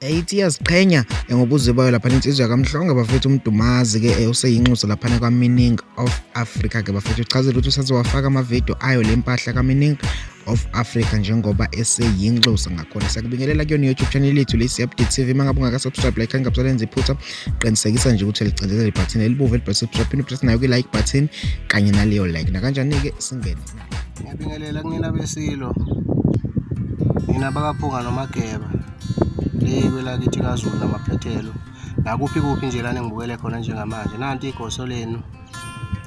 eithi iyaziqhenya ngobuze bayo laphana insizwa yakamhlonge bafethu umdumazi ke eh, useyinxusa laphana kwamining of africa ke bafethu uchazela ukuthi usaze wafaka amavidiyo ayo le mpahla kamining of africa njengoba eseyinxusa ngakhona siyakubingelela kuyona i-youtube channel yethu lesi update tv uma ngabe ungakasubscribe like angabusalenza iphutha qinisekisa nje ukuthi ligcindezela ibhathini elibovu elibhalwe subscribe phinde upress nayo kwi-like button kanye naleyo like nakanjani-ke singene ngiyabingelela kunina besilo nina bakaphunga nomageba le kwelakithi kazulu namaphethelo nakuphi kuphi nje lana ngibukele khona njengamanje nanti igoso lenu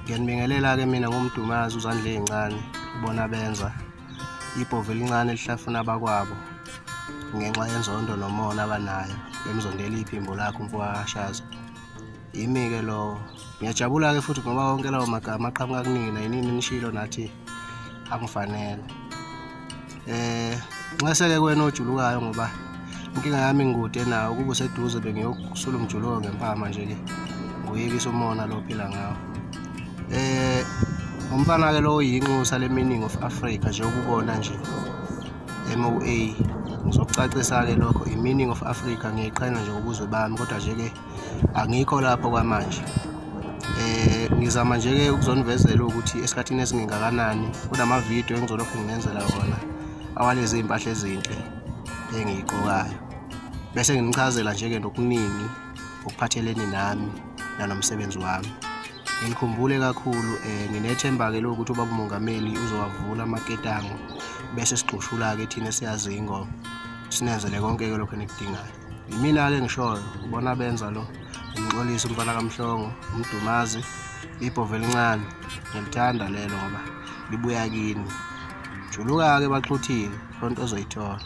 ngiyanibingelela-ke mina ngomdumazi uzandla ey'ncane ubona benza ibhovu elincane lihlafuna abakwabo ngenxa yenzondo nomona abanayo emzondela iphimbo lakho mfowakashaza yimi-ke lowo ngiyajabula-ke futhi ngoba wonke lawo magama aqhamuka kunina yinini nishilo nathi angifanele eh nxeseke kwena ojulukayo ngoba inkinga yami ngikude nawo ukuba useduze bengiyokusula umjuluko ngempama nje-ke nguyekisa umona lo phila ngawo eh umfana-ke lowo yinxusa le-meaning of africa nje ukubona nje MOA ngizokucacisa-ke lokho i-meaning of Africa ngiyiqhenya nje ubuzwe bami kodwa nje-ke angikho lapho kwamanje eh ngizama nje ke ukuzonivezela ukuthi esikhathini esingengakanani kunama video engizolokhu nginenzela wona awalezi impahla ezinhle engiyigqokayo bese nginichazela nje ke nokuningi okuphathelene nami nanomsebenzi wami ngikhumbule kakhulu eh nginethemba ke lokuthi ubaba umongameli uzowavula amaketango bese sigxushula ke thina siyazi ingoma sinenzele konke ke lokho enikudingayo yimina-ke ngishoyo ubona benza lo umxolisi umfana kamhlongo umdumazi ibhova elincane ngilithanda lelo ngoba libuya kini juluka-ke baxhuthile loo nto ozoyithola